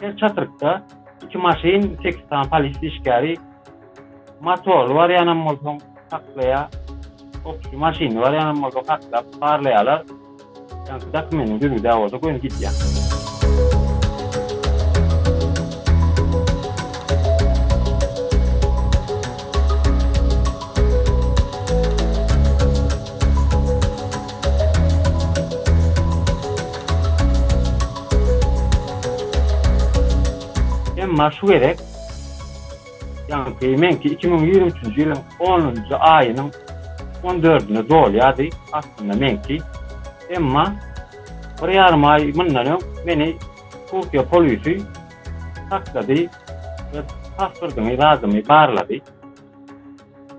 Her çatrykda iki maşyn, sekiz sany polis işgäri, motorly barýanam bolsaň saklaýar, obki maşynly barýanam bolsaň saklap, barlaýarlar. Ýaňky dokumentiň düzgüdä bolsa göni gidýär. Emma şu gezek, ýaňky meňki iki müň ýigrimi üçünji ýylyň onunjy aýynyň on dördüne dolýardy, aslynda meňki. Emma bir ýarym aý mundan öň meni Türkiýe polisi saklady we pasportyňy, zadyňy barlady.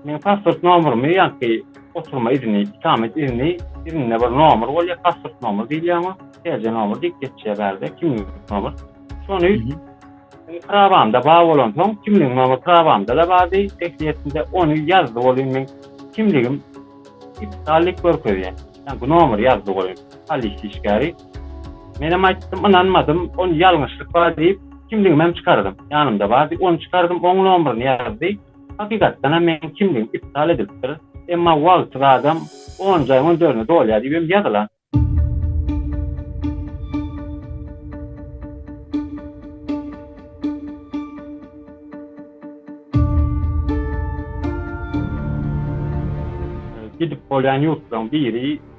Meň pasport nomerymy ýaňky oturma izni, ikamet izni izninde bir nomer bolýar, pasport nomer diýilýär oňa, TC nomer diýip geçýär bärde, kimlik nomer. Şony prabamda bar bolansoň, kimlik nomer prabamda-da bardy, tehliýetimde ony ýazdy welin meň kimligim iptal diýip görkezýär. Ýaňky nomeri ýazdy welin polis işgäri. Menem aýtdym, ynanmadym, ony ýalňyşlyk bar diýip, kimligimem çykardym. Ýanymda bardy, ony çykardym, oň nomerini ýazdy. Hakykatdan hem meniň kimligim iptal edilipdir, emma wagty badam on jaýyň on dördüne dolýar diýip hem ýazylan. Gidip bolýan ýurtlaryň biri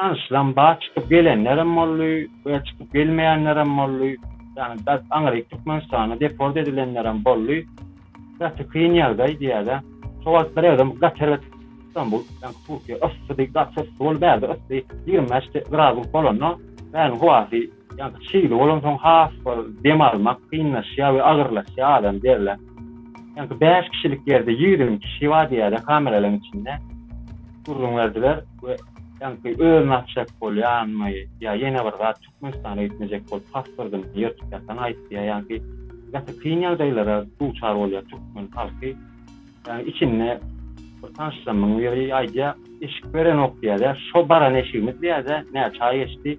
Tanyşlaryň bar, çykyp gelenlerem boldy we çykyp gelmeýänlerem boldy. Ýagny bert aňryk Türkmenistana deport edilenlerem boldy. Gaty kyn ýagdaý diýäýdä. Şo wagt biragam gaty erbet Stambul, ýagny Türkiýe yssydy, gaty yssy boldy. Bärde yssy ýigrimi bäş gradus bolanda bäriň howasy ýagny çygly bolansoň has bir dem almak kynlaşýar we agyrlaşýar adam derler. Ýagny bäş kişilik ýerde ýigrimi kişi bar diýäýdä kameralaryň içinde. Gürrüň berdiler. we ýaňky özüni atjak bolýanmy ýa ýene bir zat Türkmenistana gitmejek bolup pasportyny ýyrtyp ýatan aýtdy ýa ýaňky gaty kyn ýagdaýlara duçar bolýar türkmen halky ýagny içinde bir tanşymyň biri aýdýar eşik berenok diýýär şo baran eşigimiz diýýär näçe aý geçdi